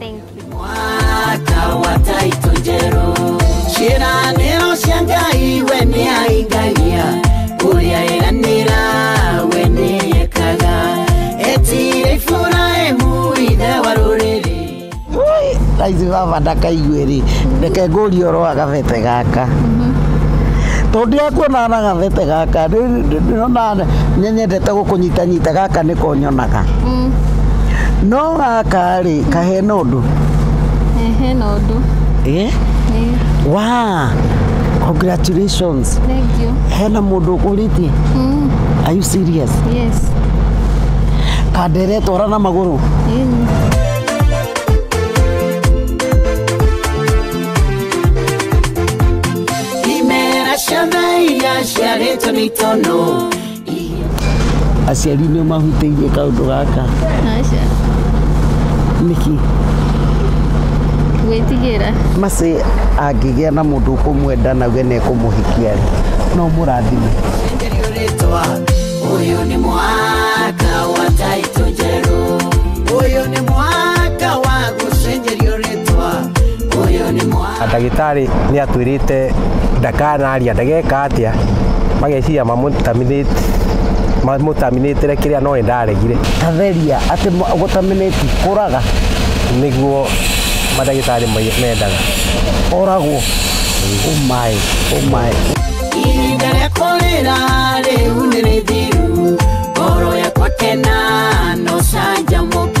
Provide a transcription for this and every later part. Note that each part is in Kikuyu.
Thank you. mwaka wa taito njerũ ciĩranĩro cia ngai we nĩ aingagia ũrĩa eranĩra we nĩ ekaga etire iburahimu ithe wa rũrĩrĩ raithi baba ndakaigue rĩ reke ngũrie ũhoro wa gabete gaka tondũ akuonaga na gabete gaka rĩ- rĩ- ndĩrona nĩnyendete gũkũnyitanyita gaka nĩko nyonaga no gaka rĩ kahena ũndũ Eh, hena ũndũ eh? Eh, wa congratulations thank you hena mũndũ ũkũrĩtie Mm, are you serious yes kandere twara na magũrũ Eh, imera ciana iria ciarĩtwo nĩ itono aciari nĩ mahutĩirie kaũndũ gaka Aca. nĩkĩ Gwĩtigĩra. macĩ angĩgĩa na mũndũ ũkũmwenda na we nekũmũhikia rĩ no mũrathime Uyu ni mwaka wa taito njerũ. Uyu ni mwaka wa gũcenjerio ndagĩtarĩ nĩ atwĩrĩte ndakanaria ndageka atĩa mageciria mamũtaminĩtĩre kĩrĩa no ndaregire tatheria atĩ gũtaminĩti kũraga nĩguo madagĩtarĩ mendaga oragwo ũmaĩ ũmaĩ ihinda rĩa kũrĩra rĩu nĩ rĩthiru ngoro yakwa kena no canjamũka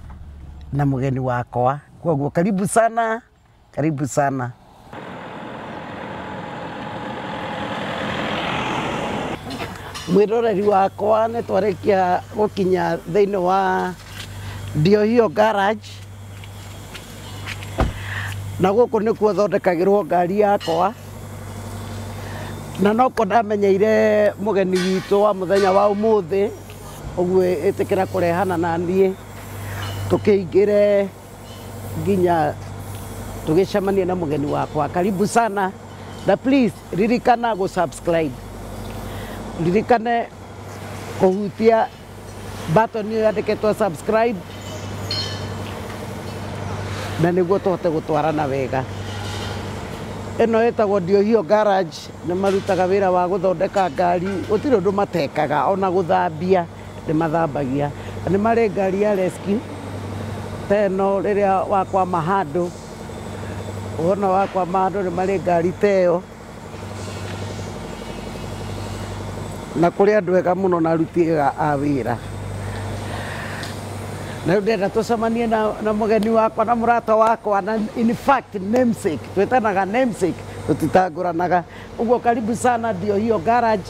na mũgeni wakwa koguo karibu sana karibu sana mwĩroreri wakwa nĩ twarĩkia gũkinya thĩinĩ wa ndiohio garage na gũkũ nĩkuo thondekagĩrwo ngari yakwa na noko ndamenyeire mũgeni witũ wa mũthenya wa ũmũthĩ Ũguo ĩtĩkĩra kũrehana na niĩ tũkĩingĩre nginya tũgĩcemanie na mũgeni wakwa. Karibu sana na please ririkana gũ subscribe. Ririkane kũhutia button ĩyo yandĩkĩtwo subscribe na nĩguo tũhote gũtwarana wega. Ĩno ĩtagwo Ndiohio Garage. Nĩ marutaga wĩra wa gũthondeka ngari, gũtirĩ ũndũ matekaga, o na gũthambia nĩ mathambagia. Na nĩ marĩ ngari ya rescue ta ĩno rĩrĩa wakwama handũ, wona wakwama handũ nĩ marĩ ngari ta ĩyo. Na kũrĩ andũ ega mũno na aruti ega a wĩra. Na rĩu ndĩrenda tũcemanie na mũgeni wakwa na mũrata wakwa na in fact namesake, twĩtanaga namesake. tũtitangũranaga ũguo karibu sana ndio hiyo garage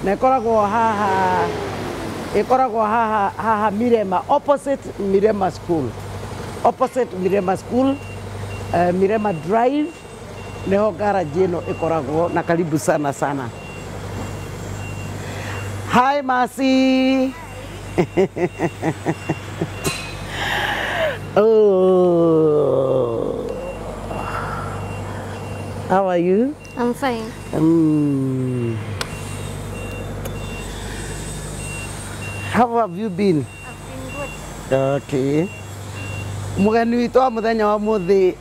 na ĩkoragwo haha ĩkoragwo haha haha mirema opposite mirema school opposite mirema school uh, mirema drive niho garage ĩno ĩkoragwo na karibu sana sana hi masi oh. How are you? I'm fine. Um, how have you been? I've been good. Okay. Mugeni witũ wa mũthenya wa mũthĩ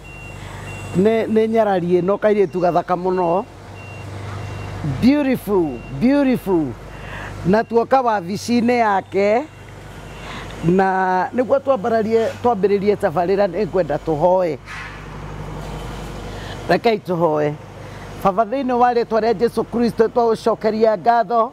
nĩ nyararie no kairĩtu gathaka mũno. beautiful beautiful na tuoka wabici-inĩ yake na nĩguo twambararie twambĩrĩrie tabarĩra nĩ ngwenda tũhoe rekei tũhoe baba thĩinĩ wa rĩtwa rĩa jesu kristo twaũcokeria ngatho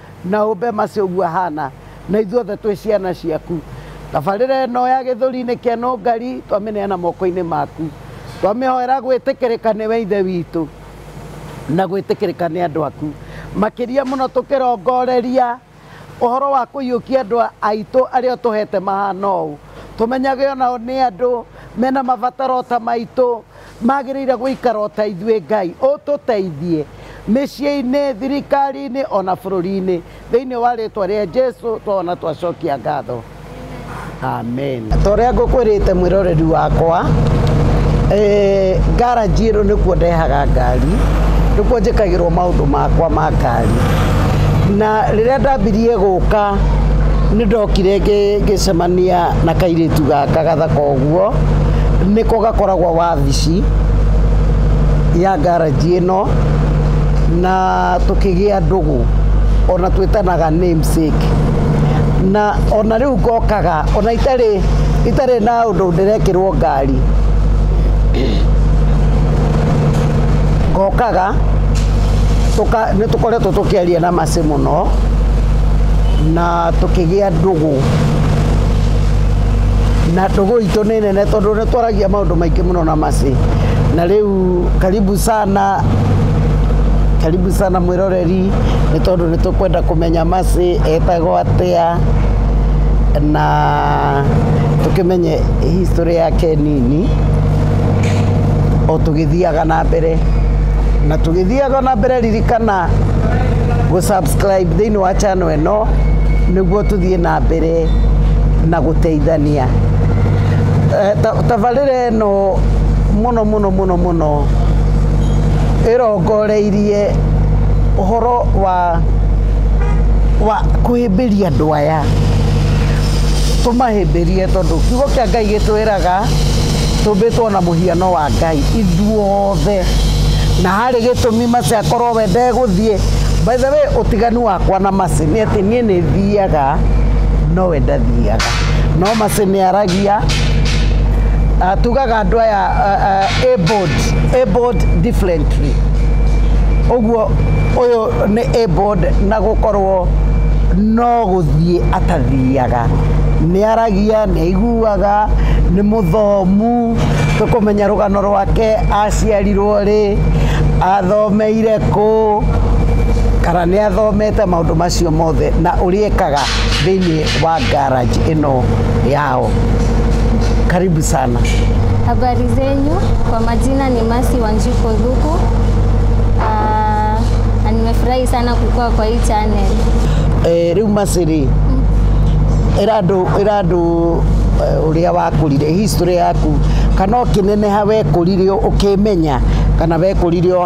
Na ũmbe Mercy ũguo ahana. Na ithuothe twĩ ciana ciaku. Tabarĩra ĩno ya Gĩthũri nĩ Ken Ũngari twamĩneana moko-inĩ maku. Twamĩhoera gwĩtĩkĩrĩka nĩwe Ithe witũ na gwĩtĩkĩrĩka nĩ andũ aku. Makĩria mũno tũkĩrongoreria ũhoro wa kũiyũkia andũ aitũ arĩa ũtũhete mahana ũũ. Tũmenyage o nao nĩ andũ mena mabataro o ta maitũ. Magĩrĩire gũikara o ta ithuĩ. Ngai ũtũteithie. Mĩciĩ-inĩ, thirikari-inĩ, o na bũrũri-inĩ. Thĩinĩ wa rĩĩtwa rĩa Jesu twaona twacokia ngatho. Amen. Ta ũrĩa ngũkwĩrĩte mwĩroreri wakwa, ngaranji ĩno nĩkuo ndehaga ngari, nĩkuo njĩkagĩrwo maũndũ makwa ma ngari. Na rĩrĩa ndambirie gũka nĩ ndokire ngĩcemania na kairĩtu gaka gathaka ũguo. Guo nĩko gakoragwo wabici ya ngaranji ĩno na tũkĩgĩa ndũgũ ona twĩtanaga namesake na ona rĩu ngokaga ona itarĩ itarĩ na ũndũ ndĩrekĩrwo ngari ngokaga nĩ tũkoretwo tũkĩaria na Mercy mũno na Ah, tũkĩgĩa ndũgũ na ndũgũ itũ nĩ nene tondũ nĩ twaragia maũndũ maingĩ mũno na macĩ na rĩu karibu sana karibu sana mwĩroreri nĩ tondũ nĩ tũkwenda kũmenya macĩ etagwo atĩa na tũkĩmenye history yake nini o tũgĩthiaga na mbere na tũgĩthiaga na mbere ririkana gũ subscribe thĩinĩ wa channel ĩno nĩguo tũthiĩ na mbere na gũteithania Eh, ta- tabarĩra ĩno mũno mũno mũno mũno ĩrongoreirie ũhoro wa wa kũhĩmbĩria andũ aya tũmahĩmbĩrie tondũ kiugo kĩa ngai gĩtwĩraga tũmbĩtwo na mũhiano wa ngai ithuothe na harĩ gĩtũmi maciakorwo we ndegũthiĩ By the way, ũtiganu wakwa na Mercy nĩ atĩ niĩ nĩ thiaga nowe ndathiaga. No Mercy nĩ aragia ah, tugaga andũ aya ah, ah, abled, abled differently. Ũguo ũyũ nĩ abled na gũkorwo no gũthiĩ atathiaga. Nĩ aragia, nĩ aiguaga, nĩ mũthomu, tũkũmenya rũgano rwake aciarirwo rĩ, athomeire Kũ, kana nĩ athomete maũndũ macio mothe na ũrĩa ekaga thĩinĩ wa garage ĩno yao. Karibu sana. Habari zenyu, kwa majina ni Masi Wanjiko Dhuku. Ah, na nimefurahi sana kukua kwa hii channel. Eh, rĩu macĩrĩ ĩra andũ ĩra andũ eh, ũrĩa wakũrire history yaku kana ũkĩneneha wekũrire ũkĩmenya kana wekũrire o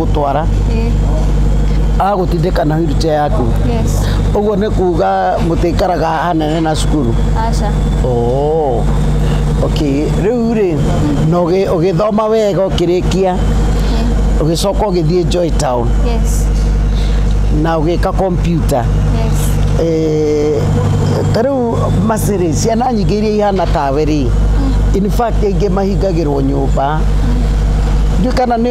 gũtwara agũtindĩka na wheelchair yaku Yes. ũguo nĩ kuga mũtĩkaraga hanene na cukuru Aca. Oh. Okay. Rĩu rĩ na ũgĩ- ũgĩthoma wega ũkĩrĩkia ũgĩcoka ũgĩthiĩ Joy Town Yes. na ũgĩka kompyuta Yes. Eh, ta rĩu macirĩ ciana nyingĩ iria ihana tawe rĩ in fact ingĩ mahingagĩrwo nyũmba ndiũ kana nĩ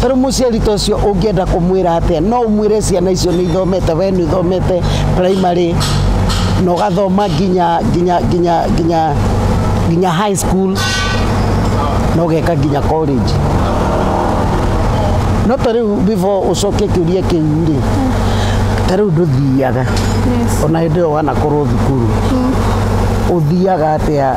tarä muciari ta ucio ungienda kumwira atia no umwire ciana icio ni ithomete we ni ithomete primary na ugathoma nginya nginya nginya nginya nginya high school na ugeka nginya college no ta riu before ucoke kiuria kiu ri ta riu nduthiaga Yes. ona hä ndä ä yo wanakorwo thukuru å thiaga atä a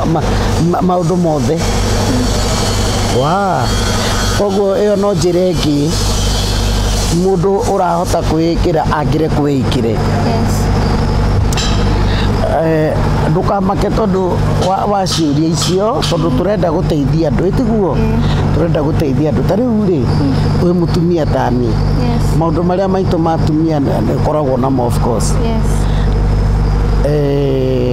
ma, ma, maũndũ mothe wa koguo ĩyo no njĩra ĩngĩ mũndũ ũrahota kwĩĩkĩra angĩre kwĩĩkĩre yes. Eh, ndũkamake tondũ wa- wa ciũria icio tondũ tũrenda gũteithia andũ ĩtiguo tũrenda gũteithia andũ ta rĩu rĩ wĩ mũtumia tani Yes. maũndũ marĩa maitũ ma atumia nĩ- nĩkoragwo namo of course yes. Eh,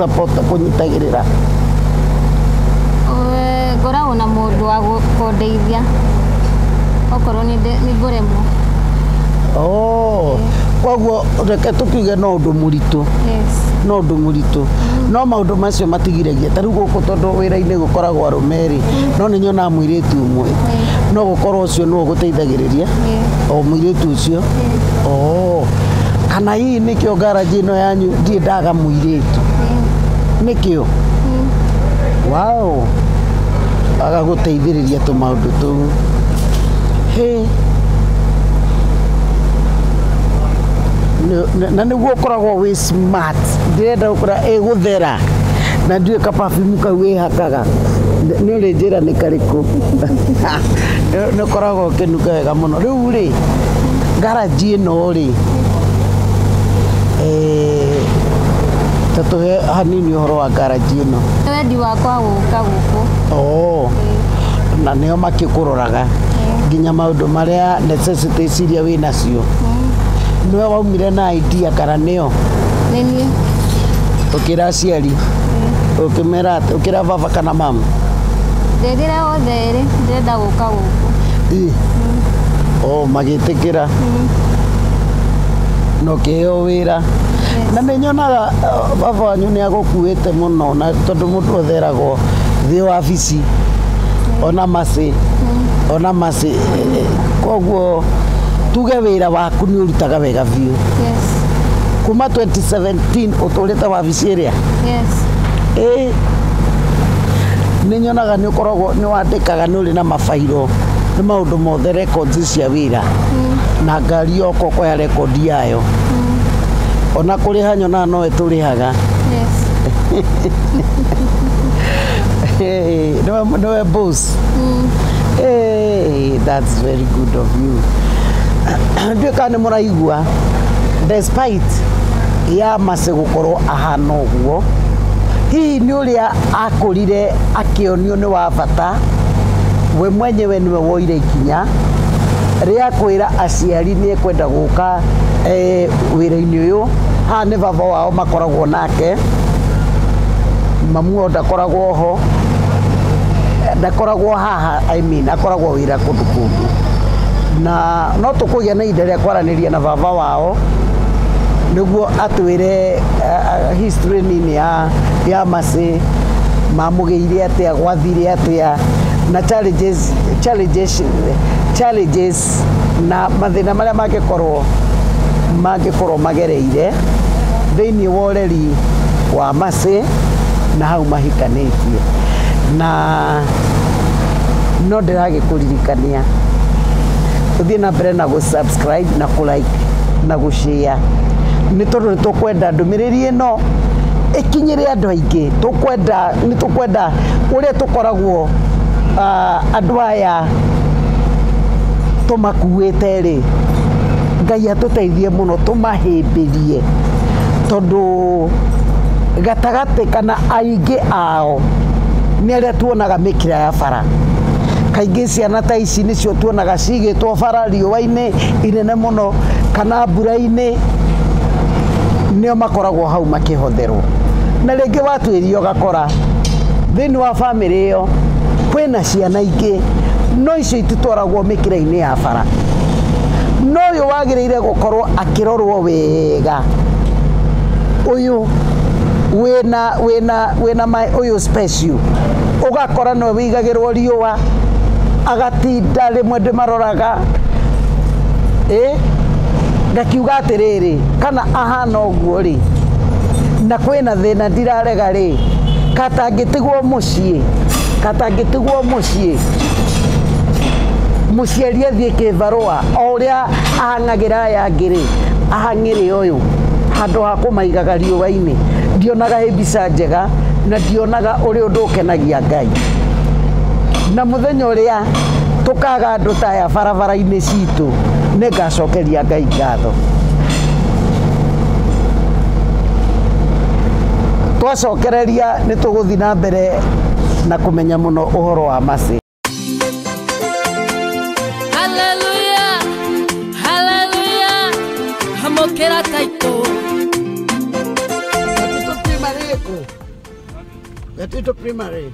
Pota kũnyitagĩrĩra. Eh, ngoragwo na mũndũ wa gũ- kũndeithia okorwo nĩ nde- nĩ ngũremwo Oh, koguo reke tũkiuge no ũndũ mũritũ yes no ũndũ mũritũ no maũndũ macio matigiragia ta rĩu gũkũ tondũ wĩra-inĩ gũkoragwo arũme rĩ no nĩ nyonaga mũirĩtu ũmwe no gũkorwo ũcio nĩwe ũgũteithagĩrĩria yes o mũirĩtu ũcio yes. oh. kana hihi Hihi nĩkĩo garage ĩno yanyu ndirĩ ndaga mũirĩtu nĩkĩo wao agagũteithĩrĩria tũmaũndũ tũu Hĩ. Nĩ- nĩ- na nĩguo ũkoragwo wĩ smart ndĩrenda gũkora ĩgũthera na ndiũĩ ka perfume kau wĩhakaga Nĩ- nĩ ũrĩ njĩra nĩ karĩkũ Nĩ- nĩ ũkoragwo ũkĩnuga wega mũno rĩu rĩ garaji ĩno rĩ Eh, ta tũhe hanini ũhoro wa ngaraji ĩno Nĩ wendi wakwa gũka gũkũ Oo, na nĩo makĩkũroraga nginya maũndũ marĩa necessities iria wĩ nacio nĩwe waumire na idea kana nĩo nĩ niĩ ũkĩra aciari ũkĩmera atĩ- ũkĩra baba kana mama ndĩrĩra othe erĩ ndĩrenda gũka gũkũ. Ĩ. O magĩtĩkĩra. Na ũkĩheo wĩra. Na nĩ nyonaga uh, baba wanyu nĩ agũkuĩte mũno na tondũ mũndũ othe eragwo thiĩ wabici ona macĩ ona macĩ koguo tuge wĩra waku nĩ ũrutaga wega biũ Yes. kuma 2017 ũtũrĩte wabici ĩrĩa Yes. ĩ nĩ nyonaga nĩ Ũkoragwo nĩ wandĩkaga nĩ ũrĩ na mabairo nĩ maũndũ mothe rekondi cia wĩra mm. na ngari yoka ũkoya rekondi yayo mm. ona kũrĩha nyonaga nowe tũrĩhaga nowe boss mm. hey, that's very good of you nduä kana nä må raigua despite ya macä gå korwo ahana å guo hihi ũrĩa akũrire akĩonio nĩ wa bata, we mwenyewe nĩwe woire ikinya rĩa kwĩra aciari nĩ ekwenda gũka e, wĩra-inĩ ũyũ. Haha nĩ baba wao makoragwo nake, mamu wao ndakoragwo ho, ndakoragwo haha, I mean akoragwo wĩra kũndũ kũngĩ, na no tũkũgĩa na ihinda rĩa kwaranĩria na baba wao nĩguo atwĩre uh, history nini ya ya masĩ mamũgĩire atĩa gwathire atĩa na challenges, challenges, challenges na mathĩna marĩa mangĩkorwo mangĩkorwo magereire thĩinĩ wa ũreri wa macĩ na hau mahikanĩtie na no ndĩragĩkũririkania ũthiĩ na mbere na gũ subscribe na kũ like na gũ share nĩ tondũ nĩ tũkwenda ndũmĩrĩri ndũmĩrĩri ĩno ĩkinyĩre andũ aingĩ. Tũkwenda nĩ tũkwenda ũrĩa tũkoragwo andũ aya tũmakuĩte rĩ, Ngai atũteithie mũno tũmahĩmbĩrie tondũ gatagatĩ kana aingĩ ao nĩ arĩa tuonaga mĩkĩra ya bara. Kaingĩ ciana ta ici nĩcio tuonaga cigĩtwo bara riũa-inĩ inene mũno kana mbura-inĩ. nĩo makoragwo hau makĩhotherwo na rĩngĩ watuĩria ũgakora thĩinĩ wa bamĩrĩ ĩyo kwĩna ciana ingĩ no icio ititwaragwo mĩkĩra-inĩ ya bara no ũyũ wagĩrĩire gũkorwo akĩrorwo wega ũyũ wĩna wĩna wĩna ũyũ special ũgakora no wĩigagĩrwo riũa agatinda rĩmwe ndĩmaroraga. ĩ ngakiuga atĩrĩrĩ kana ahana ũguo rĩ na kwĩna thĩna ndirarega rĩ katangĩtigwo mũciĩ katangĩtigwo mũciĩ mũciari athiĩ kĩbarũa o ũrĩa ahang'agĩra aya angĩ rĩ ahang'ĩre ũyũ handũ ha kũmaigaga riũa-inĩ ndionaga ĩ mbica njega na ndionaga ũrĩ ũndũ ũkenagia Ngai na mũthenya ũrĩa tũkaga andũ taya barabara-inĩ citũ nĩ ngacokeria ngai ngatho twacokereria nĩ tũgũthiĩ na mbere na kũmenya mũno ũhoro wa macĩ Haleluya, haleluya, amokera taito. Gatito primary.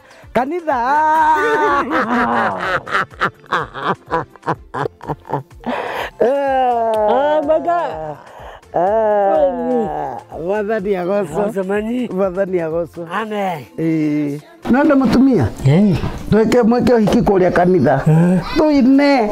kanitha maka mwathani agocwo Mwathani. mwathani agocwo Amen. nonde mutumia Eh. tweke mweke uhiki kuria kanitha tuine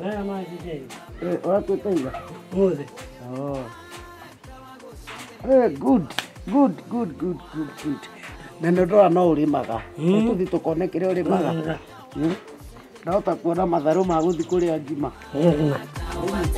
Naya maji nini? Eh, watu tena. Muze. Oh. Eh, good. Good, good, good, good, good. Na nĩ ũndũ wa no ũrĩmaga. Mm. Tũthi tũkone kĩrĩa ũrĩmaga. Nĩ. Mm. Na ũtakuona matharũ ma gũthi kũrĩa ngima. Eh.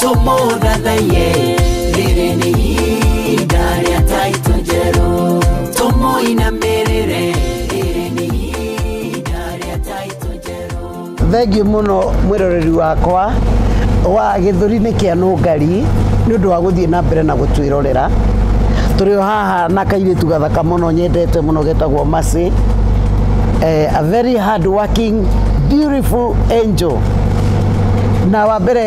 tũmũthathaiye rĩrĩ nĩ ihinda rĩa taito njerũ tũmũinamĩrĩre rĩrĩ nĩ ihinda rĩa taito njerũ thengiũ mũno mwĩroreri wakwa wa gĩthũri-inĩ kĩa nũngari nĩ ũndũ wa gũthiĩ na mbere na gũtwĩrorera tũrĩ o haha na kairĩtu gathaka mũno nyendete mũno getagwo Mercy eh, a very hard working beautiful angel na wa mbere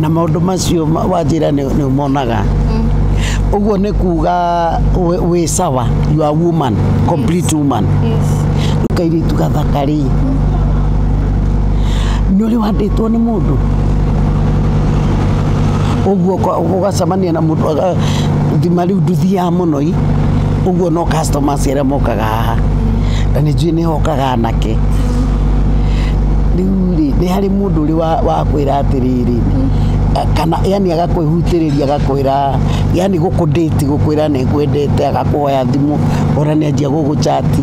na maũndũ macio ma- wanjĩra nĩ nĩ ũmonaga ũguo nĩ kuga wĩ- wĩ sawa you are woman complete woman kairĩtu gathaka rĩ nĩ ũrĩ wandĩtwo nĩ mũndũ ũguo ũka- ũgacemania na mũndũ aga- thima rĩu nduthiaga mũno i ũguo no customers arĩa mokaga haha na nĩ njũĩ nĩ hokaga anake rĩu rĩ nĩ harĩ Mũndũ ũrĩ wa, wa kwĩra atĩrĩrĩ eh, kana yani agakwĩhutĩrĩria agakwĩra yani gũkũndĩti gũkwĩra nĩ ngwendete agakuoya thimũ ona nĩ anjia gũgũchati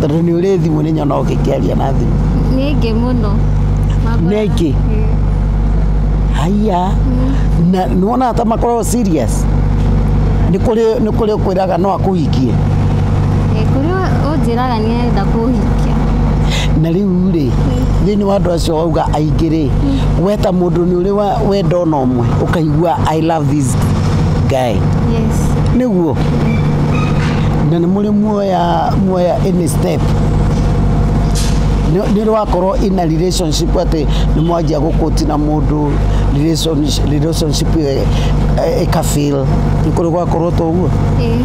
tondũ nĩ ũrĩ thimũ nĩ nyona ũgĩkĩaria na thimũ nĩ ngĩ mũno Mambura- Nĩ ngĩ? Ĩĩ. haiya na nĩ wonaga ta makoragwo serious nĩ kũrĩ nĩ kũrĩ ũkwĩraga no akũhikie Ĩĩ, kũrĩ ũnjĩraga Nĩenda kũhikia. na rĩu rĩ thĩinĩ wa andũ acio wauga aingĩ rĩ we ta mũndũ nĩ ũrĩ wa- wenda ona ũmwe ũkaigua i love this guy Yes. nĩguo na nĩ mũrĩ muoya muoya any step nĩ ũrĩ wakorwo ina relationship atĩ nĩ mwanjia gũkũti na mũndũ relationship- relationship ĩyo ĩkabil nĩ kũrĩ gwakorwo toguo Ĩĩ.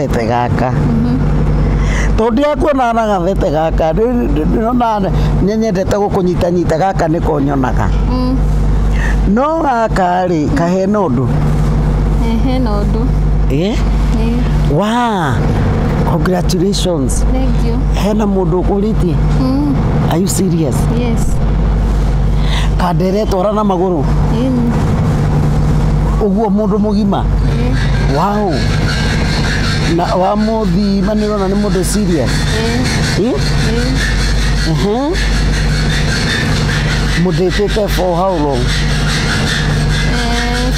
gathete gaka tondũ ndirakuonaga na gathete gaka ndĩronaga nĩ nyendete gũkũnyitanyita gaka nĩko nyonaga no gaka rĩ kahena ũndũ Eh, hena ũndũ Eh, Eh, wa congratulations thank you hena mũndũ ũkũrĩtie Mm, are you serious yes kandere twara na magũrũ Mm, ũguo mũndũ mũgima wow na wa mũthima nĩ ũrona nĩ mũndũ serious Eh? Mhm. mũthĩtĩte for how long Eh,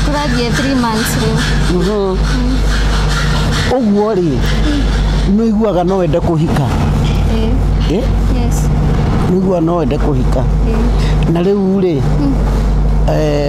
kũrathiĩ three months rĩu Mhm. ũguo rĩ nĩ ũiguaga no wende kũhika Eh, Eh? yes nĩ ũiguaga no wende kũhika Eh. na rĩu rĩ eh,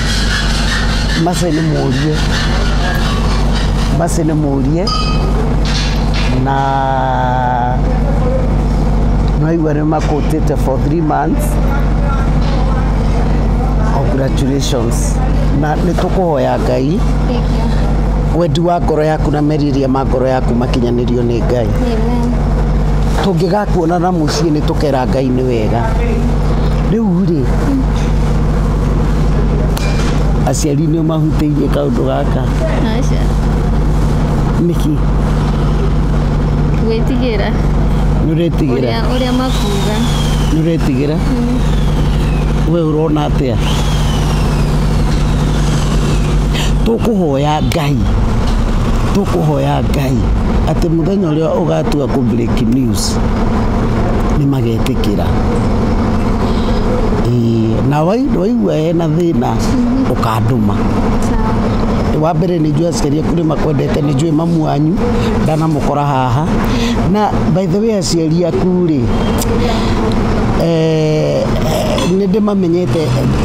mbase nimũrie mbase nimũrie na nwaigua nĩ makũtĩte for three months congratulations na nĩ tũkũhoya ngai wendi wa ngoro yaku na merirĩria ma ngoro yaku makinyanĩrio nĩ ngai tũngĩgakuonana mũciĩ nĩ tũkera ngai nĩ wega rĩu rĩ aciari nĩ mahutĩirie kaũndũ gaka Aca. nĩkĩ Gwĩtigĩra. nĩ ũretigĩra Ũrĩa, ũrĩa makuga. nĩ ũretigĩra we ũrona atĩa tũkũhoya ngai tũkũhoya ngai atĩ mũthenya ũrĩa ũgatua kũ break news nĩ magetĩkĩra na waigua hena thĩna ũkandũma wa mbere nĩ njũĩ aciari aku nĩ makwendete nĩ njũĩ mamu wanyu ndanamũkora haha na by the way aciari aku rĩ eh, nĩ ndĩmamenyete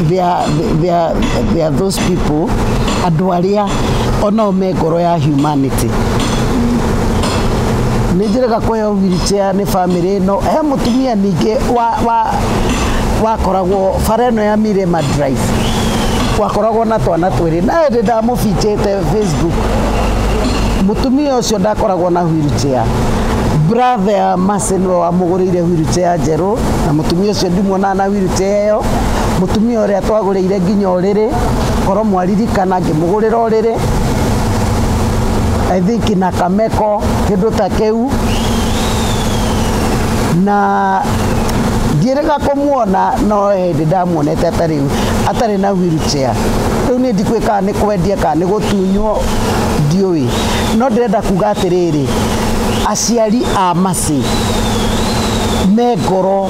they are those people andũ arĩa onao me ngoro ya humanity nä njä rega kå heo wheelchair nä bamĩrĩ ĩno he mũtumia ningĩ wa- wa- wakoragwo bara ĩno ya mirema drive wakoragwo na twana twĩrĩ naä ndä ndamå binjĩte facebook mũtumia ũcio ndakoragwo na wheelchair brother ya Mercy nĩwe wamũgũrĩire wheelchair njerũ na mũtumia ũcio ndimuonaga na wheelchair ĩyo mũtumia ũrĩa twagũrĩire nginya ũrĩrĩ Korwo mwaririkana ngĩmũgũrĩra ũrĩrĩ I think na kameko kĩndũ ta kĩu na ndiĩrĩga kũmuona no hĩndĩ ndamuonete atarĩ atarĩ na wheelchair rĩu nĩ ndikũĩ kana nĩ kwendia kana nĩ gũtunywo ndiũĩ no ndĩrenda kuga atĩrĩrĩ aciari a Mercy me ngoro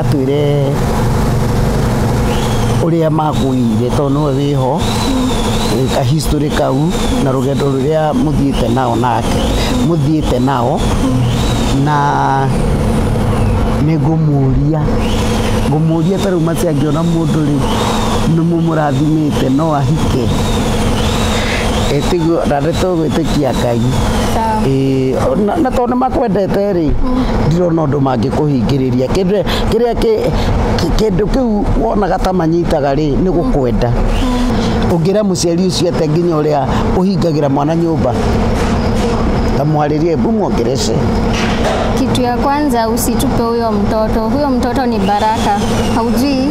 atwĩre ũrĩa makũire tondũ nĩwe wĩho ka history kau na rũgendo rũrĩa mũthiĩte nao nake mũthiĩte nao na nĩ ngũmũria ngũmũria ta rĩu macia angĩona mũndũ rĩ nĩ mũmũrathimĩte no ahike etigo na ndeto gwĩtĩkia ngai Sawa. Ĩĩ, na- na tondũ nĩ makwendete rĩ ndirona ũndũ mangĩ kũhingĩrĩria kĩrĩa kĩrĩa kĩ- kĩ- kĩndũ kĩu wonaga ta manyitaga rĩ nĩ gũkwenda ũngĩra mũciari ũcio atĩa nginya ũrĩa ũhingagĩra mwana nyũmba ta mwarĩrie mbu mwongerece Kitu ya kwanza usitupe huyo mtoto. Huyo mtoto ni baraka, haujui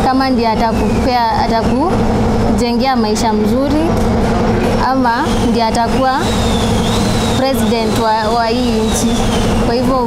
kama ndiye atakupea atakujengea maisha mzuri ama ndiye atakuwa president wa, wa hii nchi. Kwa hivyo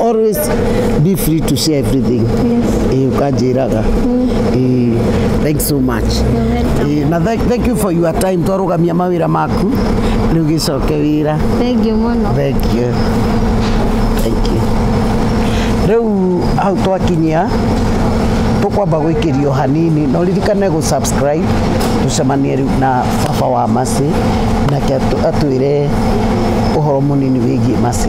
always be free to share everything Eh, ukanjĩraga Eh, thanks so much Eh, na thank, thank you for your time twarũgamia mawĩra maku rĩu gĩcoke wĩra Thengiũ mũno. thank you thank you rĩu hau twakinyia tũkwamba gwĩkĩrio hanini no ririkane gũ subscribe tũcemanie rĩu na baba wa macĩ nake atũ- atwĩre ũhoro mũnini wĩgiĩ macĩ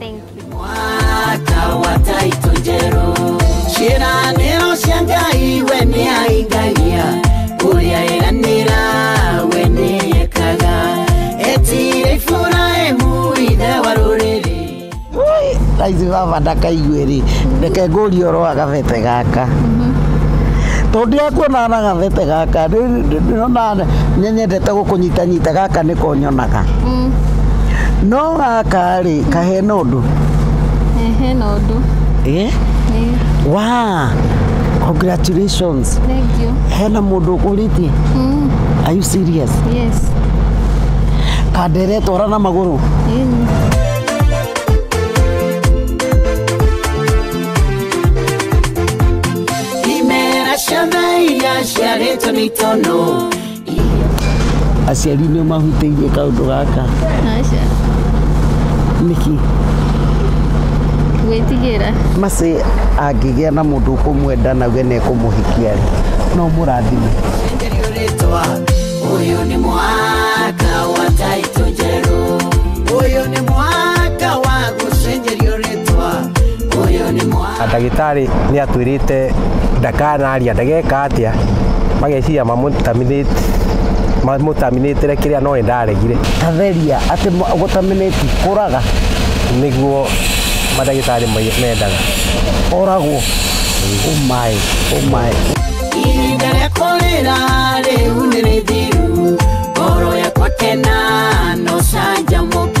Thank you. mwaka wa taito njerũ ciĩranĩro cia ngai we nĩ aingagia ũrĩa eranĩra we nĩ ekaga etire iburahimu ithe wa rũrĩrĩ raithi baba ndakaigue rĩ reke ngũrie ũhoro wa gabebe gaka tondũ akuonaga na gabebe gaka rĩ- rĩ- ndĩrona nĩnyendete gũkũnyitanyita gaka nĩko nyonaga no gaka rĩ kahena ũndũ Eh, hena ũndũ eh? Ĩĩ, wa congratulations thank you hena mũndũ ũkũrĩtie Mm, are you serious yes kandere twara na magũrũ Ĩĩ. imera ciana iria ciarĩtwo nĩ itono aciari nĩ mahutĩirie kaũndũ gaka Aca. nĩkĩ Gwĩtigĩra. macĩ angĩgĩa na mũndũ ũkũmwenda na we nekũmũhikia rĩ no mũrathime Uyu ni mwaka wa taito njerũ. Uyu ni mwaka wa gũcenjerio na ndagĩtarĩ nĩ atwĩrĩte ndakanaria ndageka atĩa mageciria mamũtaminĩtĩre kĩrĩa no ndaregire tatheria atĩ gũtaminĩti kũraga nĩguo madagĩtarĩ mendaga oragwo ũmaĩ ũmaĩ ihinda rĩa kũrĩra rĩu nĩ rĩthiru ngoro yakwa kena no canjamũka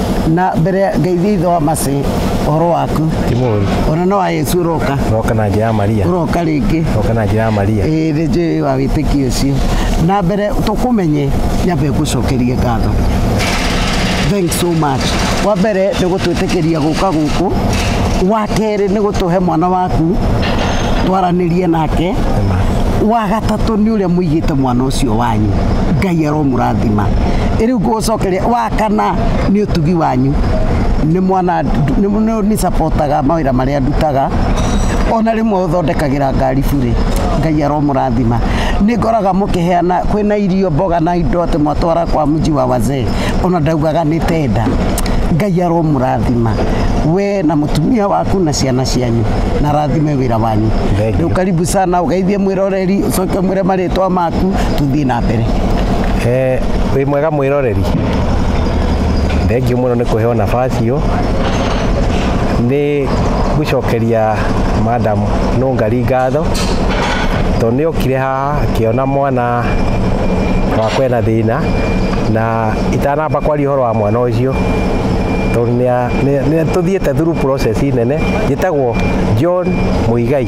na mbere ngeithia ithe wa macĩ ũhoro waku ti mũru ona no wa yesu ũroka roka na njĩra ya maria ũroka rĩngĩ roka na njĩra ya maria ĩĩ nĩ njũĩ wa wĩtĩkio ũcio na mbere tũkũmenye nyambe ngũcokerie ngatho thanks so much wa mbere nĩ gũtwĩtĩkĩria gũka gũkũ wa kerĩ nĩ gũtũhe mwana waku twaranĩrie nake wa gatatũ nĩ ũrĩa mũigĩte mwana ũcio ũcio wanyu ngai aromũrathima rĩu ngũgũcokeria wa kana nĩ ũtugi wanyu nĩ mwana nĩ supportaga mawĩra marĩa ndutaga ona rĩmwe ũthondekagĩra ngari burĩ ngai aromũrathima nĩ ngoraga mũkĩheana kwĩna irio mboga na indo atĩ mwatwara kwa mji wa wazee ona ndaugaga nĩ tenda ngai aromũrathima we na mũtumia waku na ciana cianyu na rathime wĩra wanyu Thank you. rĩu karibu sana ũgeithie mwĩrore Mũroreri ũcoke ũmwĩre marĩtwa maku tũthiĩ na mbere. Eh, wĩ mwega mwĩroreri thengiũ mũno nĩ kũheo nabasi ĩyo nĩ gũcokeria madam nũngari ngatho tondũ nĩ okire haha akĩona mwana wakwa ena thĩna na itanamba kwaria ũhoro wa mwana ũcio tondũ nĩa- nĩa- nĩ tũthiĩte through process nene njĩtagwo John Mũigai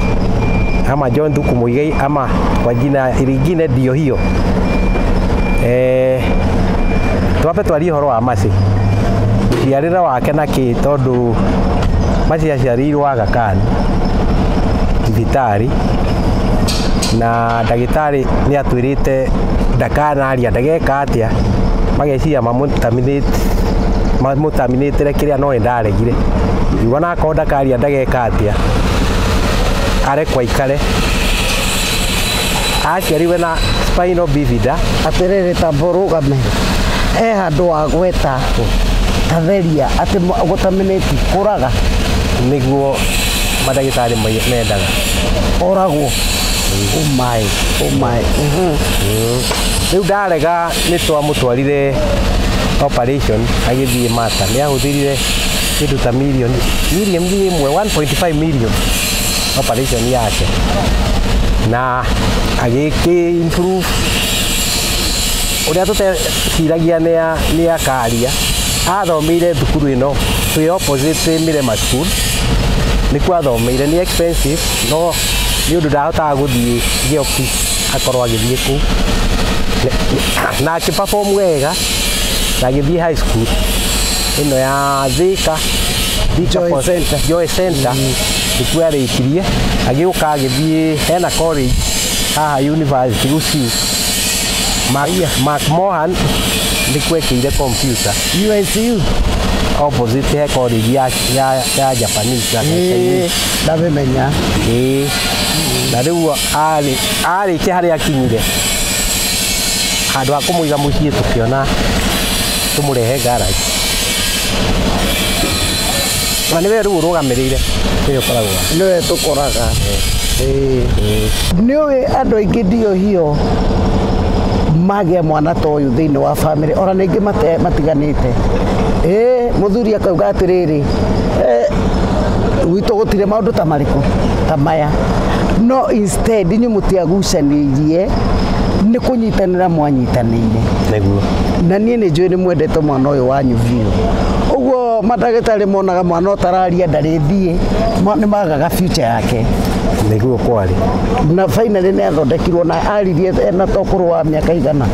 John Thuku Muigai ama kwa jina lingine ndio hiyo eh, twape twarie horo wa Mercy ciarĩre wake na kĩ tondũ Mercy aciarĩirwo Aga Khan thibitarĩ na ndagĩtarĩ nĩ atwĩrĩte ndakanaria ndageka atĩa mageciria mamũtaminĩtĩre kĩrĩa no nĩ ndaregire yuga nakorwo ndakaria ndageka atĩa are kwa ikare aciariwe na spinal bifida atĩrĩrĩ tamba ũrũgame e handũ wa gweta tatheria atĩ gũtaminĩti kũraga nĩguo mandagĩtarĩ mai- mendaga ũragwo ũmaĩ ũmaĩ rĩu ndarega nĩ twamũtwarire operation agĩthiĩ mata nĩ ahũthĩrire kĩndũ ta milioni milioni ĩmwe 1.5 million operation yake na agĩkĩ improve ũrĩa tũteciragia nĩ ya- nĩ ya karia athomeire thukuru ĩno twĩ opposite Mirema school nĩkuo athomeire nĩ expensive no nĩ ũndũ ndahotaga gũthiĩ gĩoki akorwo agĩthiĩ kũu na akĩperform wega na agĩthiĩ high school ĩno ya Thika Thika Joy Pos- Center. Joy Center nĩkuo arĩkirie agĩũka agĩthiĩ hena college haha university Gusii Mark, Mark Mohan nĩkuo ekĩire computer UNCU opposite he college ya, ya, ya Japanese ya Chinese. ndabimenya Ĩĩ. na rĩu arĩ arĩkia harĩa akinyire handũ ha kũmũiga mũciĩ tũkĩona tũmũrehe garage na nĩwe rĩu ũrũgamĩrĩire nĩwe ũkoragwo nĩwe tũkoraga nĩ ũĩ andũ aingĩ ndio hiyo magĩa mwana ta ũyũ thĩinĩ wa bamĩrĩ ona ningĩ mate- matiganĩte ĩĩ mũthuri akauga atĩrĩrĩ "Eh, gwitũ gũtirĩ maũndũ ta marĩkũ ta maya no instead inyuĩ mũtiagucanĩirie nĩ kũnyi kũnyitanĩra mwanyitanĩire nĩguo na niĩ nĩ njũĩ nĩ mwendete mwana ũyũ wanyu biũ ũguo mandagĩtarĩ monaga mwana ũtararia ndarĩ thiĩ ma- nĩ magaga future yake nĩguo kwarĩ na finally nĩ athondekirwo na aririe ena tokũrũ wa mĩaka igana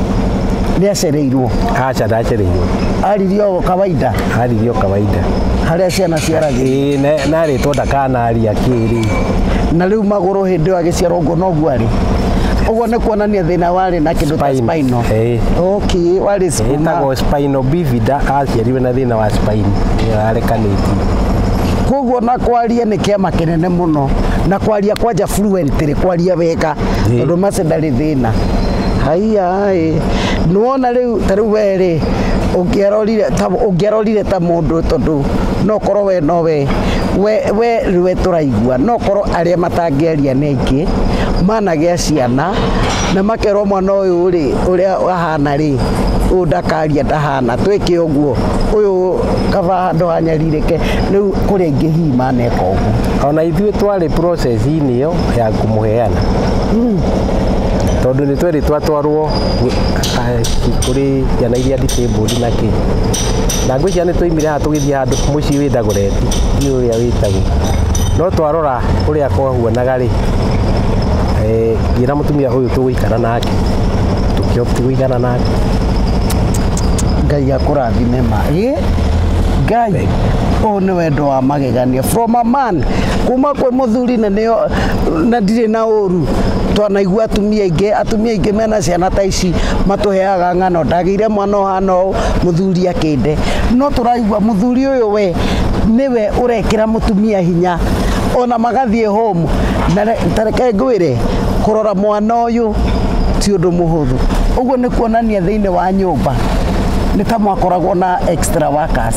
nĩ acereirwo aca ndacereirwo aririe o kawaida aririo kawaida harĩa ciana ciaragĩrwo Ĩĩ, na- narĩtwo ndakanaria kĩrĩ na rĩu magũrũ hĩndĩ ĩyo agĩciarwo ũguo noguo arĩ Ũguo nĩ kuonania thĩna warĩ na kĩndũ ta Spine. spinal. Eh. Okay, warĩ spinal. ĩtagwo spino bivida aciarirwe na thĩna wa spine ĩrarekanĩtie Koguo na kwaria nĩ kĩama kĩnene mũno na kwaria kwanja fluently kwaria wega Ĩ. tondũ mace ndarĩ thĩna. Haiya ĩ nĩwona rĩu ta rĩu we rĩ ũngĩarorire ta ũngĩarorire ta mũndũ tondũ no korwo we no we we we rĩwe tũraigua no korwo arĩa matangĩaria nĩ make managĩa ciana na makerwo mwana ũyũ rĩ ũrĩa ahana rĩ ũyũ ndakaria ndahana twĩke ũguo ũyũ kaba handũ hanyarirĩke rĩu kũrĩa ingĩ hihi maneka ũguo ona ithuĩ twarĩ process-inĩ ĩyo ya kũmũheana tondũ nĩ twerĩ twatwarwo eh, kũrĩ ciana iria disabled na kĩ na ngwĩ ciana nĩ twaimire haha tũgĩthiĩ handũ mũciĩ wĩ Dagoretti ndiũ ũrĩa wĩtagwo no twarora ũrĩa kwa Kuonaga rĩ, eh, ngĩra mũtumia ũyũ tũgũikara nake tũkĩopt gũikara nake ngai akũrathime ma ĩ ngai ũũ nĩ wendo wa magegania from a man kuma kwĩ mũthuri na nĩo na ndirĩ na ũru twanaigua atumia aingĩ atumia aingĩ mena ciana ta ici matũheaga ng'ano ndagĩire mwana ũhana ũũ mũthuri akĩnde no tũraigua mũthuri ũyũ we nĩwe urekira mutumia hinya ona magathie home na tareke ngwire kurora mwana uyu ti undu muhuthu uguo ni kuonania thiini wa nyumba ni ta mwakoragwo na extra workers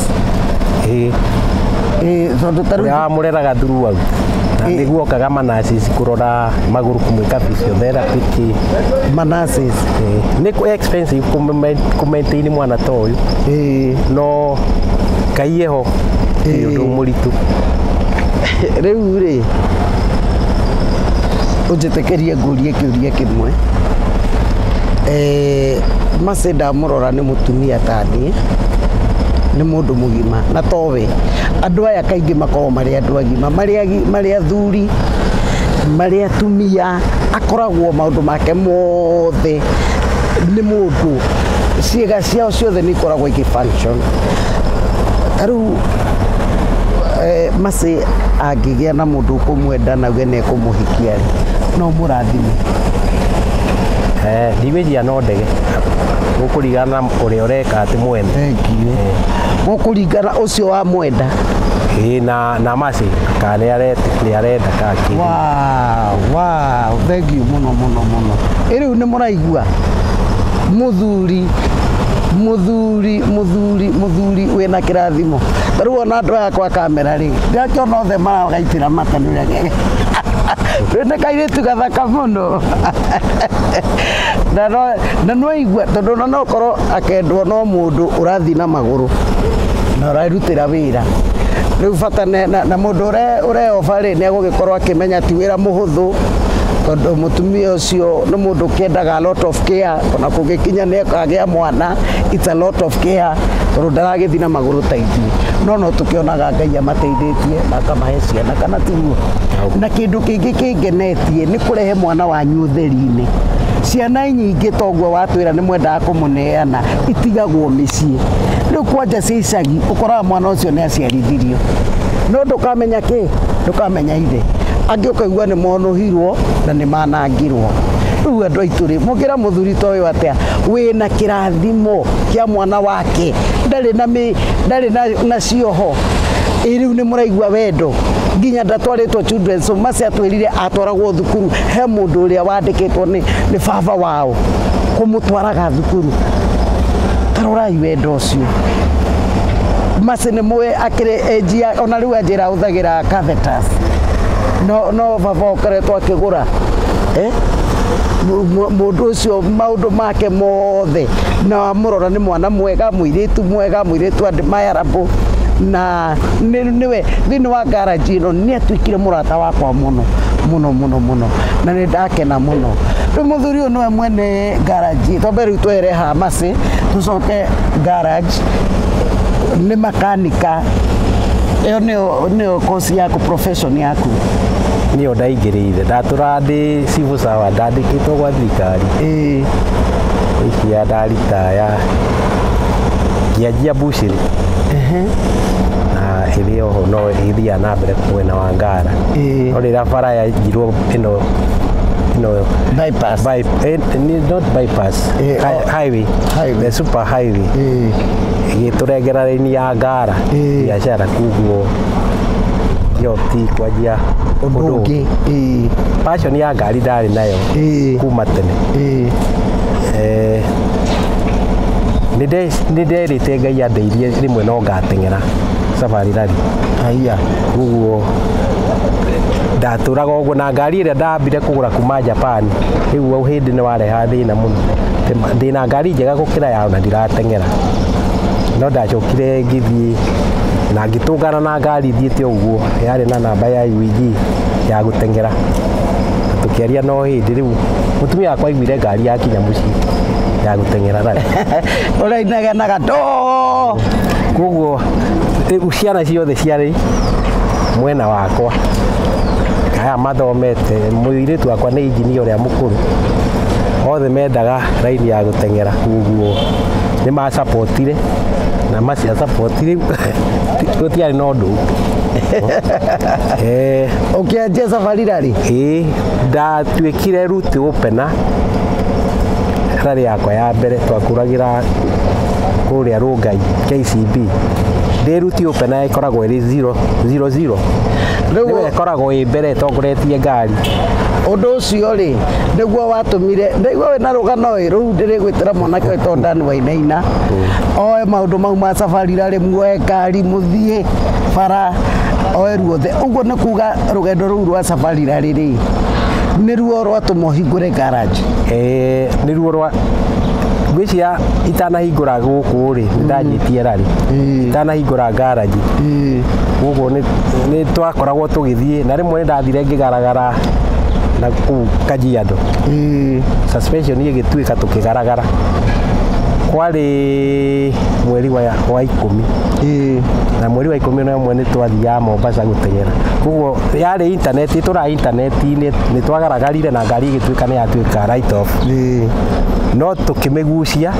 eh eh tondu taru ya mureraga thuru wau niguo kaga manasis kurora maguru kumwika physiotherapy ki manasis ni ku expensive kumaintain mwana ta uyu eh no kaiye gĩko nĩ ũndũ mũritũ rĩu rĩ ũnjĩtĩkĩrie ngũrie kĩũria kĩmwe eh, Mercy ndamũrora nĩ mũtumia ta niĩ nĩ mũndũ mũgima na towe andũ aya kaingĩ makoragwo marĩ andũ agima marĩ athuri marĩ atumia akoragwo maũndũ make mothe nĩ mũndũ ciĩga ciao ciothe nĩ ikoragwo igĩ function ta rĩu eh, macĩ angĩgĩa na mũndũ ũkũmwenda na we nekũmũhikia rĩ no mũrathime Eh, ndimĩjia no ndege gũkũringana na ũrĩa ũreka atĩ mwene thengiũ gũkũringana ũcio wa mwenda Ĩĩ, na na macĩ kana nĩ arenda nĩ arenda kana kĩndũ. Wow, wow, thengiũ mũno mũno mũno ĩrĩu nĩ mũraigua mũthuri mũthuri Mũthuri, mũthuri, mũthuri wĩna kĩrathimo. Ta rĩu ona andũ aya kwa kamera rĩ, ndĩrakĩona othe maragaitĩra mata nĩ ũrĩa ge- Rĩu nĩ kairĩtu gathaka mũno. Na no- na nĩ waigua tondũ ona no ũkorwo akendwo no mũndũ ũrathiĩ na magũrũ na ũrarutĩra wĩra rĩu bata ne- na na mũndũ ũre- ũreoba rĩ nĩ egũgĩkorwo akĩmenya ti wĩra mũhũthũ tondũ mũtumia ũcio nĩ mũndũ ũkĩendaga a lot of care ona kũngĩkinya nĩ akagĩa mwana it's a lot of care tondũ ndaragĩthiĩ na magũrũ ta ithuĩ no no tũkĩonaga ngai amateithĩtie na akamahe ciana kana tiguo na kĩndũ kĩngĩ kĩngenetie nĩ kũrehe mwana wanyu ũtheri-inĩ ciana nyingĩ toguo watwĩra nĩ mwendaga kũmũneana itigagwo mĩciĩ rĩu kwanja cia icagi ũkoraga mwana ũcio nĩ aciarithirio no ndũkamenya kĩ ndũkamenya ithe angĩ ũkaigua nĩ monũhirwo na nĩ mana angirwo rĩu andũ aitũ rĩ mũngĩra mũthuri ta ũyũ atĩa wĩna kĩrathimo kĩa mwana wake ndarĩ na mĩ ndarĩ na, na cioho ĩ rĩu nĩ mũraigua wendo nginya ndatwarĩtwo children's home mace atwĩrire atwaragwo thukuru he mũndũ ũrĩa wandĩkĩtwo nĩ, nĩ baba wao kũmũtwaraga thukuru tarorai wendo ũcio mace nĩ mũĩ akĩrĩ enjia ona rĩu anjĩra ahũthagĩra catheters no no baba ũkoretwo akĩgũra eh? Mu- mu- mũndũ ũcio maũndũ make mothe na wamũrora nĩ mwana mwega mũirĩtu mwega mũirĩtu andĩ mayarabũ na nĩ- nĩwe thĩinĩ wa ngaraji ĩno nĩ atuĩkire mũrata wakwa mũno mũno mũno mũno na nĩ ndakena mũno rĩu mũthuri ũyũ nĩwe mwene ngaraji twambe rĩu twehere hamacĩ tũcoke ngaraji nĩ makanika ĩyo nĩyo nĩyo kosi yaku profession Mission yaku niyo ndaingĩrĩire ndatũra ndĩ civil servant ndandĩkĩtwo gwa thirikari ĩĩ ikia ndaritaya ngĩanjia bushiri ehe na ĩrĩ oho no ĩthiaga na mbere mwena wa ngara Ĩĩ. no rĩrĩa bara yanjirwo ĩno ĩno bypass by, eh, ni- not bypass Eh, hi- oh. highway Highway. the super highway Ĩĩ. ĩgĩtũrengera raini ya ngara Ĩĩ. biacara kuguo yo ti kwanjia ũndũ ũndũ ũngĩ ĩĩ passion ya ngari ndarĩ nayo ĩĩ kuma tene ĩĩ Eh, nĩ nde- nĩ nderĩte ngai andeithie rĩmwe no ngateng'era safari rally haiya koguo ndatũraga ũguo na ngari ĩrĩa ndambire kũgũra kuma japan rĩu au hĩndĩ nĩ wareha thĩna mũno Ndĩma- ndĩna ngari njega gũkĩra yao na ndirateng'era no ndacokire ngĩthiĩ na ngĩtũngana na Na ngari ithiĩte ũguo yarĩ na namba ya UEG ya gũteng'era tũkĩaria no hĩndĩ rĩu mũtumia wakwa aiguire ngari yakinya mũciĩ ya gũteng'era rarĩ ũrainagenaga to koguo rĩu ciana ciothe ciarĩ mwena wakwa aya mathomete mũirĩtu wakwa nĩ injinia ũrĩa mũkũrũ othe mendaga raini ya gũteng'era koguo nĩ macapotire na macia sapoti rĩu gũtiarĩ na ũndũ Eh, ũkĩanjia safari rarĩ ĩĩ ndatuĩkire ruti ũpena rarĩ yakwa ya mbere twakũragĩra kũrĩa rũngai KCB ndĩ ruti ũpena ĩkoragwo ĩrĩ 0 0 0 Rĩu- nĩwe ĩkoragwo ĩ mbere ĩtongoretie ngari ũndũ ũcio rĩ nĩguo watũmire ndaigua wĩ na rũgano ĩ rũu ndĩrĩgwĩtĩra mwanake ũyũ tondũ ndani wainaina oe maũndũ mau ma safari rarĩ muoe ngari mũthiĩ bara oe ruothe ũguo nĩ kuga rũgendo rũu rwa safarira rĩrĩ nĩruo rwatũma ũhingũre garage Eh, nĩruo rwa ngwĩciria itanahingũra gũkũ rĩ ndanyitie rari Mm. itanahingũra ngaraji gũkũ nĩ- nĩ twakoragwo tũgĩthiĩ na rĩmwe nĩ ndathire ngĩgaragara na kũu kajiado suspension ĩgĩtuĩka tũkĩgaragara kwarĩ mweri wa wa ikũmi na mweri wa ikũmi na ũmwe nĩ twathiaga Mombasa gũteng'era koguo yarĩ intaneti tũra intaneti-inĩ nĩ twagaragarire na ngari ĩgĩtuĩka nĩ yatuĩka right off no tũkĩmĩgucia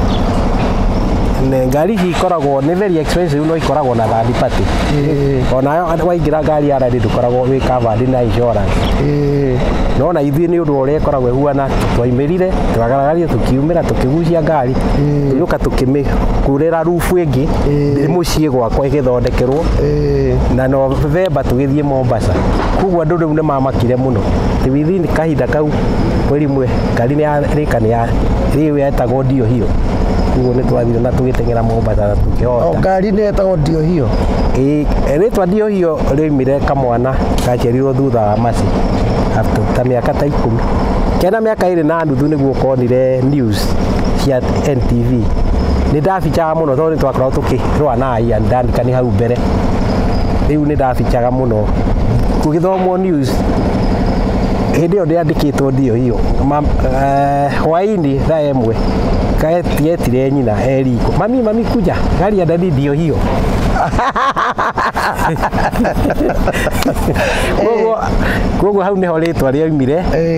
Ne- ngari ici ikoragwo nĩ very expensive no ikoragwo na third party onayo waingĩra ngari ya rari ndũkoragwo wĩ covered na insurance no na ithuĩ nĩ ũndũ wa ũrĩa ĩkoragwo ĩhuana twaimĩrire twagaragaria tũkiumĩra tũkĩgucia ngari tũnyũka tũkĩmĩkurĩra rubu ĩngĩ ndĩ mũciĩ gwakwa ĩgĩthondekerwo na novemba tũgĩthiĩ mombasa koguo andũ rĩu nĩ mamakire mũno Ati within kahinda kau mweri mwe ngari nĩ yarĩka nĩ ya rĩu yetagwo ndio hiyo koguo nĩ twathire na tũgĩteng'era mombasa na o tũkĩhota ngari nĩ yetagwo ndio hiyo Ĩ- rĩtwa ndio hiyo rĩoimire kamwana gaciarirwo thutha wa maci after ta mĩaka ta ikũmi kena mĩaka ĩrĩ na nuthu nĩguo konire news cia NTV nĩ ndabicaga mũno tondũ nĩ twakoragwo tũkĩrũa na Ian Duncan hau mbere rĩu nĩ ndabicaga mũno gũgĩthomwo news hĩndĩ ĩyo ndĩandĩkĩtwo ndio hiyo hwainĩ thaa ĩmwe getire nyina eriko mami mami kuja gari ya dadi ndio hiyo koguo hau nĩho rĩtwa rĩaumire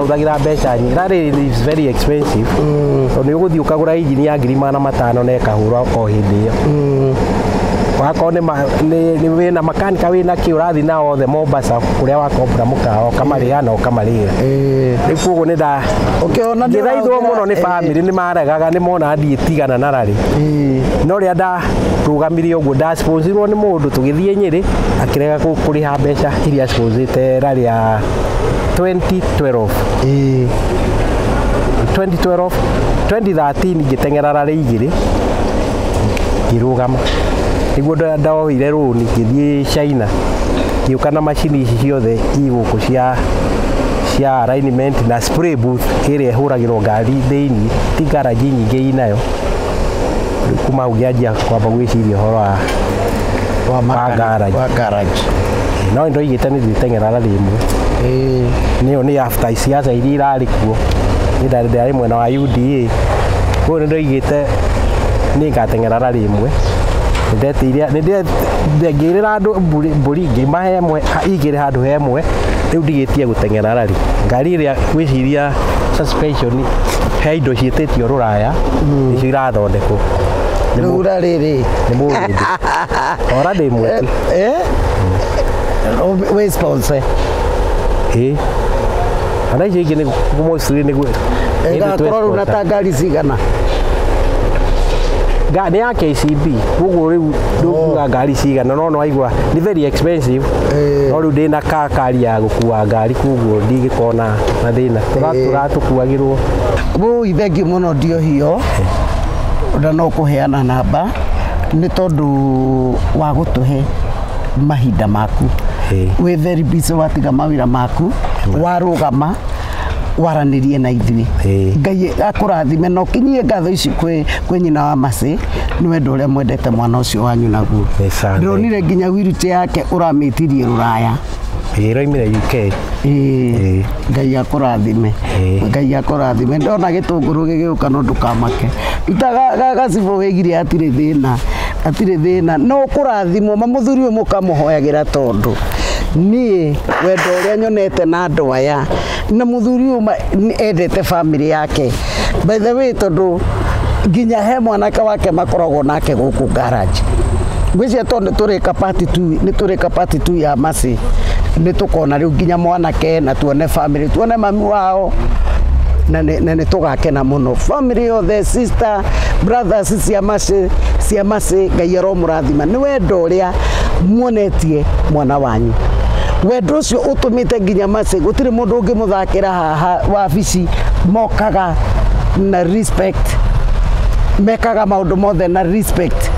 hũthagĩra mbeca nyingĩ na rĩrĩ is very expensive tondũ nĩ ũgũthiĩ ũkagũra injini ya ngiri magana matano na ĩkahũra o hĩndĩ ĩyo wakorwo nĩ ma- nĩ- nĩ wĩna makanika wĩna kĩ ũrathiĩ nao othe Mombasa kũrĩa wakombora mũkawa ũkamarĩha na ũkamarĩra rĩu koguo nĩ nda Ũkĩona nĩ ngĩthaithwo ũrahũthĩra- mũno nĩ eh. bamĩrĩ nĩ maregaga nĩ mona ndiĩ tigana na rarĩ no rĩrĩa ndarũgamire ũguo ndasponzirwo nĩ mũndũ tũgĩthiĩ nyĩrĩ akĩrega kũ- kũrĩha mbeca iria sponzĩte rarĩ ya 2012 ĩĩ 2012 2013 ngĩteng'era rarĩ igĩrĩ ngĩrũgama nĩguo nda- ndoire rũni ngĩthiĩ China ngĩũka na macini ici ciothe igũkũ cia cia alignment na spray booth ĩrĩa ĩhũragĩrwo ngari thĩinĩ ti garage nyingĩ inayo kuma ũngĩanjia kwamba gwĩciria ũhoro wa wa makanika- garage. wa garage no nĩ ndoigĩte nĩ ndĩteng'era na rĩmwe Eh, nĩyo nĩ after siasa iria irarĩ kuo nĩ ndarĩ ndarĩ mwena wa UDA koguo nĩ ndoigĩte nĩ ngateng'era na rĩmwe Nĩ ndetĩire nĩ nde- nde- ngĩrĩra andũ mbũri- mbũri ngĩmahe ĩmwe ha- igĩrĩ handũ he ĩmwe rĩu ndigĩtie gũteng'era rari ngari ĩrĩa gwĩciria suspension he indo ciĩtĩtio rũraya mm. icio irathondekwo rĩu ra rĩrĩ nĩ mũrĩndĩ ora ndĩ mwĩti eh, eh? wĩ sponsor ĩ kana icio ingĩ nĩ mũciri nĩ gwĩ ĩgakorwo rĩu na ta ngari cigana nĩ ya KCB koguo rĩu ndũkuga oh. ngari cigana no nwaigua nĩ very expensive eh. no rĩu ndĩna kakari ya gũkua ngari koguo ndingĩkona mathĩna Tũra- tũratũkuagĩrwo Wũi thengiũ mũno ndiohio na no kũheana namba nĩ tondũ wa gũtũhe mahinda maku Ĩĩ. wĩ very busy watiga mawĩra maku warũgama waranĩrie na ithuĩ Ĩĩ. ngai akũrathime na ũkinyie ngatho ici kwĩ kwĩ nyina wa macĩ nĩ wendo ũrĩa mwendete mwana ũcio wanyu naguo Nĩ sana. ndĩronire nginya wiruti yake ũramĩtirie rũraya Ĩĩ roimire UK. Ĩĩ. Ngai akũrathime. Ĩĩ. Ngai akũrathime. Ndona gĩtũngũrũ gĩgĩũka no ndũkamake. Ruta ga- ga- gacibũ wĩgirie hatirĩ thĩna. Hatirĩ thĩna. No ũkũrathimwo. Ma mũthuri ũyũ mũkamũhoyagĩra tondũ niĩ wendo ũrĩa nyonete na andũ aya na muthuri uyu ma- ni- endete family yake by the way tondu nginya he mwanake wake makoragwo nake guku garage ngwĩcia to nĩ tũrĩka pati tu nĩ tũrĩka pati tu ya maci nĩ tũkona rĩu nginya mwanake na tuone family tuone mami wao na nĩ na nĩ tũgakena mũno family yothe sister brothers cia maci cia maci ngai aromũrathima nĩ wendo ũrĩa muonetie mwana wanyu wendo ũcio ũtũmĩte te nginya mace gutire mundu ungimuthakira haha wabici mokaga na respect mekaga maundu mothe na respect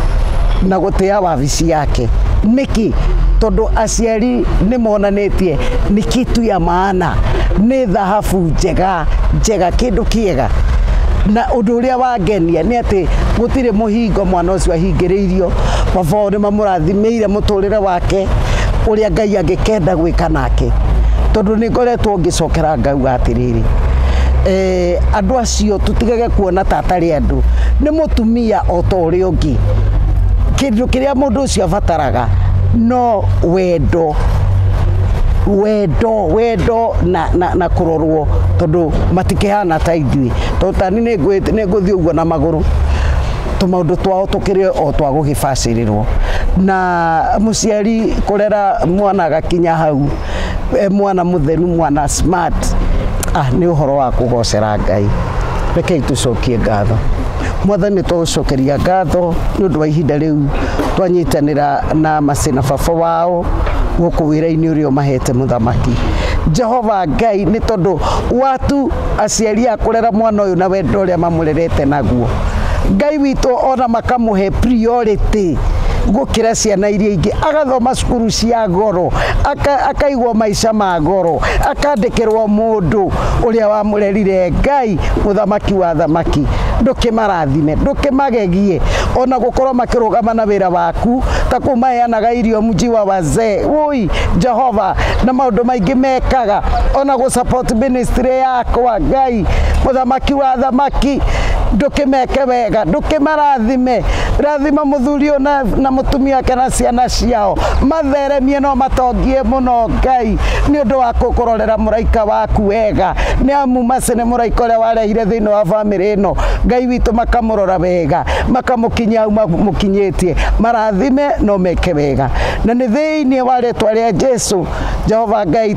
na gutia wabici yake niki tondu aciari ni monanitie ni kitu ya maana ni thahabu njega njega kindu kiega na undu uria wangenia ni ati gutire muhingo mwana ucio ahingiriirio baba wao ni mamurathimire muturire wa wake ũrĩa Ngai angĩkenda gwĩka nake tondũ nĩ ngoretwo ngĩcokera ngauga atĩrĩrĩ eh, andũ acio tũtigage kuona ta atarĩ andũ nĩ mũtumia o ta ũrĩa ũngĩ kĩndũ kĩrĩa mũndũ ũcio abataraga no wendo wendo wendo na, na, na kurorwo tondu matikihana ta ithuĩ tondu tani nĩ ngũthiĩ ũguo na magũrũ tũmaũndũ twao tũkĩrĩ o twa gũgĩbacĩrĩrwo na mũciari kũrera mwana agakinya hau e mwana mũtheru mwana smart ah, nĩ ũhoro wa kũgocera Ngai rekei tũcokie ngatho mwathani tũgũcokeria ngatho nĩ ũndũ wa ihinda rĩu twanyitanĩra na macina baba wao gũkũ wĩra-inĩ ũrĩa ũmahete mũthamaki jehova ngai nĩ tondũ watu aciari a kũrera mwana ũyũ na wendo ũrĩa mamũrerete naguo Ngai witũ ona makamũhe priority gũkĩra ciana iria ingĩ agathoma cukuru cia goro akaigwo maica ma goro akandĩkĩrwo mũndũ ũrĩa wamũrerire Ngai mũthamaki wa thamaki ndũkĩmarathime ndũkĩmagegie ona gũkorwo makĩrũgama na wĩra waku ta kũu maheanaga irio mji wa wazee woi Jehova na maũndũ maingĩ mekaga ona gũ support ministry yakwa Ngai mũthamaki wa thamaki ndũkĩmeke wega ndũkĩmarathime rathima mũthuri ũyũ na, na mũtumia wake na ciana ciao matheremie no matongie mũno ngai nĩ ũndũ wa kũkũrorera mũraika waku wega nĩ amu maci nĩ mũraika ũrĩa warehire thĩinĩ wa bamĩrĩ ĩno ngai witũ makamũrora wega makamũkinyia hau mamũkinyĩtie marathime no meke wega na nĩ thĩinĩ wa rĩtwa rĩa jesu Jehova Ngai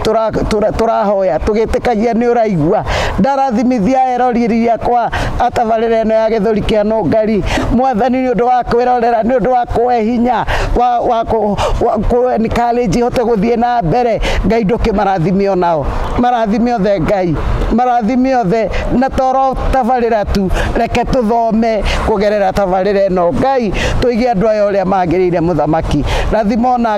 tũrahoya tũgĩtĩkagia nĩ ũraigua ndarathimithia eroriri yakwa atabarĩra ĩno ya gĩthũri kĩa nũngari mwathani nĩ ũndũ wa kwĩrorera nĩ ũndũ wa kũhe hinya wa kũenikarenji hote gũthiĩ na mbere Ngai ndũkĩmarathime onao marathime othe Ngai marathime othe na toro tabarĩra tu reke tũthome kũgerera tabarĩra ĩno Ngai tũige andũ aya ũrĩa magĩrĩire mũthamaki rathima ona